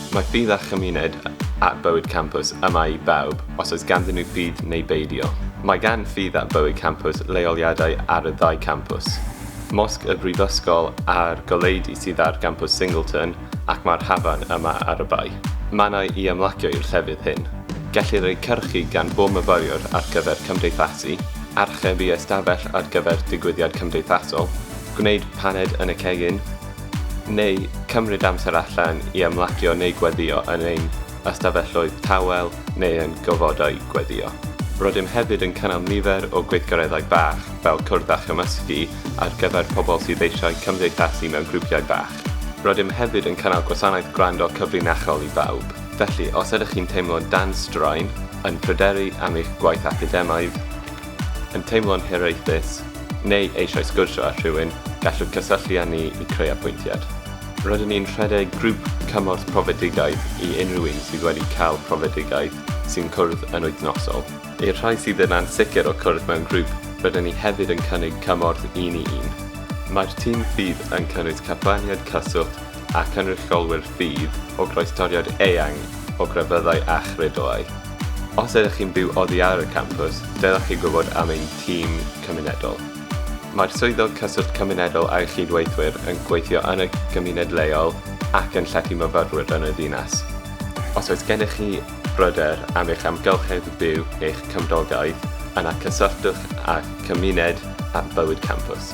Mae ffydd a chymuned at bywyd campws yma i bawb, os oes ganddyn nhw ffydd neu beidio. Mae gan ffydd at bywyd campws leoliadau ar y ddau campws, Mosg y Brifysgol a'r goleudy sydd ar gampws Singleton ac mae'r hafan yma ar y bae. Mannau i ymlacio i'r llefydd hyn. Gellir eu cyrchu gan bob myfyriwr ar gyfer cymdeithasu, archebu ystafell ar gyfer digwyddiad cymdeithasol, gwneud paned yn y cegin, neu cymryd amser allan i ymlacio neu gweddïo yn ein ystafelloedd tawel neu yn gofodau gweddïo. Rydym hefyd yn cynnal nifer o gweithgareddau bach fel cwrdd a chymysgu ar gyfer pobl sydd eisiau cymdeithasu mewn grwpiau bach. Rydym hefyd yn cynnal gwasanaeth gwrando cyfrinachol i bawb, felly os ydych chi'n teimlo dan straen, yn pryderu am eich gwaith academaidd, yn teimlo'n hiraethus neu eisiau sgwrsio â rhywun, gallwch gysylltu â ni i creu apwyntiad. Rydyn ni'n rhedeg grŵp cymorth profedigaeth i unrhyw un sydd wedi cael profedigaeth sy'n cwrdd yn wythnosol. I'r rhai sydd yn ansicr o cwrdd mewn grŵp, rydyn ni hefyd yn cynnig cymorth un i un. Mae'r tîm fydd yn cynnwys carfaniaid cyswllt a chynrychiolwyr fydd o groestoriad eang o grefyddau a chredoau. Os ydych chi'n byw oddi ar y campws, dylech chi gwybod am ein tîm cymunedol. Mae'r Swyddog Cyswllt Cymunedol a'i chyd-weithwyr yn gweithio yn y gymuned leol ac yn llety myfyrwyr yn y ddinas. Os oes gennych chi bryder am eich amgylchedd byw, eich cymdogaeth, yna cysylltwch â Cymuned at Bywyd Campws.